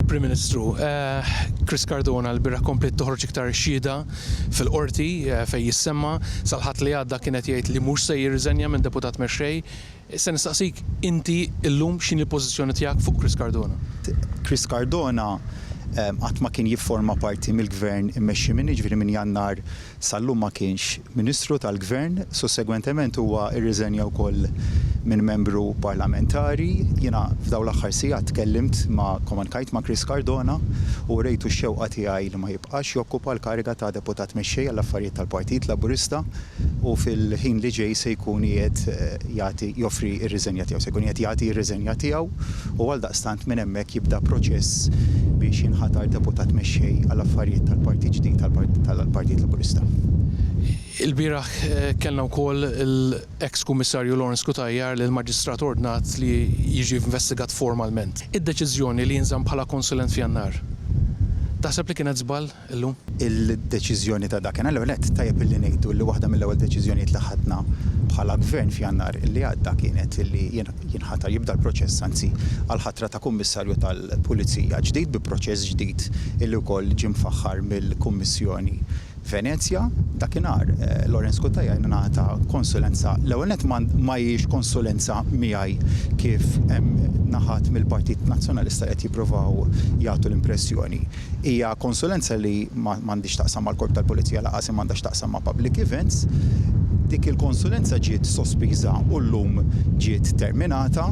Prim Ministru. Chris Cardona l-bira kompliet toħroġ iktar xhieda fil-Qorti fejn jissemma sal-Ħadd li għadda kien qed jgħid li mhux se jirriżenja minn Deputat Mexxej. Se nistaqsik inti llum x'inhi l-pożizzjoni tiegħek fuq Chris Cardona? Chris Cardona qatt ma kien jifforma parti mill-Gvern immexxi minni, jiġifieri minn Jannar Sal-lum ma kienx Ministru tal-Gvern. Sussegwentement huwa rriżenja wkoll minn Membru Parlamentari. Jiena f'dawn l-aħħar sigħat tkellimt ma' komunkajt ma' Chris Cardona u wrejtu x-xewqa tiegħi li ma jibqax jokkupa l-kariga ta' Deputat Mexxej għall-Affarijiet tal-Partit Laburista u fil-ħin li ġej se jkun qiegħed jagħti joffri r-riżenja tiegħu. Se jkun qiegħed jagħti r-riżenja tiegħu. u għaldaqstant minn hemmhekk jibda proċess biex jinħatar Deputat Mexxej għal Affarijiet tal-Partit ġdid tal-Partit Laburista. Ilbieraħ kellna wkoll l-eks Kummissarju Lawrence Cutajar li l-Maġistrat ordnat li jiġi investigat formalment. Id-deċiżjoni li jinżamm bħala konsulent f'Jannar, taħseb li kienet żball? illum. Il-deċiżjoni ta' dakinhar, l-ewwel nett tajjeb illi ngħidu li waħda mill-ewwel deċiżjonijiet li ħadna bħala Gvern f'Jannar li għadda kienet illi jinħatar, jibda l-proċess anzi, għall-ħatra ta' Kummissarju tal-Pulizija ġdid bi proċess ġdid illi wkoll ġie mfaħħar mill-Kummissjoni Venezja. Dakinhar Lawrence Cutajar ingħata konsulenza, l-ewwel nett ma hijiex konsulenza miegħi kif hemm naħat mill-Partit Nazzjonalista li qed jippruvaw jagħtu l-impressjoni. Hija konsulenza li ma għandhiex x'taqsam mal-Korp tal-Pulizija lanqas imma għandha x'taqsam ma' public events. Dik il-konsulenza ġiet sospiża u llum ġiet terminata.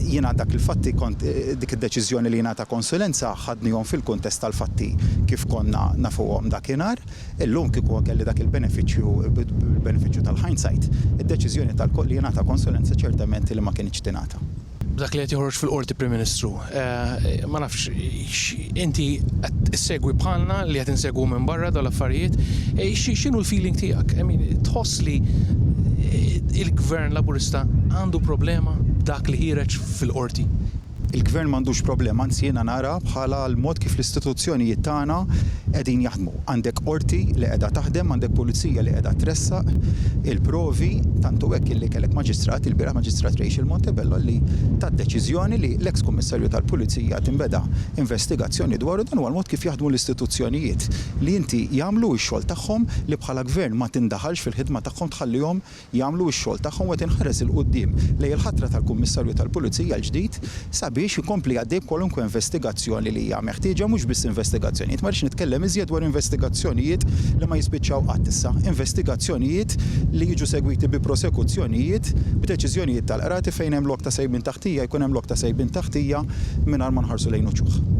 Jiena dak il-fatti kont, dik id-deċiżjoni li jingħata konsulenza ħadnihom fil-kuntest tal-fatti kif konna nafuhom dakinhar. Illum kieku kelli dak il-benefiċċju, il-benefiċċju tal-hindsight, id-deċiżjoni li jingħata konsulenza ċertament li ma kinitx tingħata. B'dak li qed joħroġ fil-Qorti Prim Ministru. Ma nafx x'inti qed issegwi bħalna li qed insegwu minn barra dawn l-affarijiet, x'inhu l-feeling tiegħek? I mean, tħoss li l-Gvern Laburista għandu problema b'dak li ħiereġ fil-Qorti? Il-Gvern m'għandux problema, anzi jiena nara bħala l-mod kif l-istituzzjonijiet tagħna qegħdin jaħdmu. Għandek qorti li qiegħda taħdem, għandek pulizija li qiegħda tressaq il-provi, tant hu hekk illi kellek maġistrat, ilbieraħ Maġistrat Rachel Montebello li tat deċiżjoni li l-eks Kummissarju tal-Pulizija tinbeda investigazzjoni dwaru, dan huwa l-mod kif jaħdmu l-istituzzjonijiet li inti jagħmlu x-xogħol tagħhom li bħala Gvern ma tindaħalx fil-ħidma tagħhom tħallihom jagħmlu x-xogħol tagħhom u qed inħares 'il quddiem lejn il-ħatra tal-Kummissarju tal-Pulizija l-ġdid sabiex ikompli għaddej b'kwalunkwe investigazzjoni li hija meħtieġa, mhux biss investigazzjonijiet, ma rridx nitkellem iżjed dwar investigazzjonijiet li ma jispiċċaw qatt issa, investigazzjonijiet li jiġu segwiti bi prosekuzzjonijiet, b'deċiżjonijiet tal-qrati fejn hemm lok ta' sejbien ta' ħtija jkun hemm lok ta' sejbien ta' ħtija mingħajr ma nħarsu lejn uċuħ.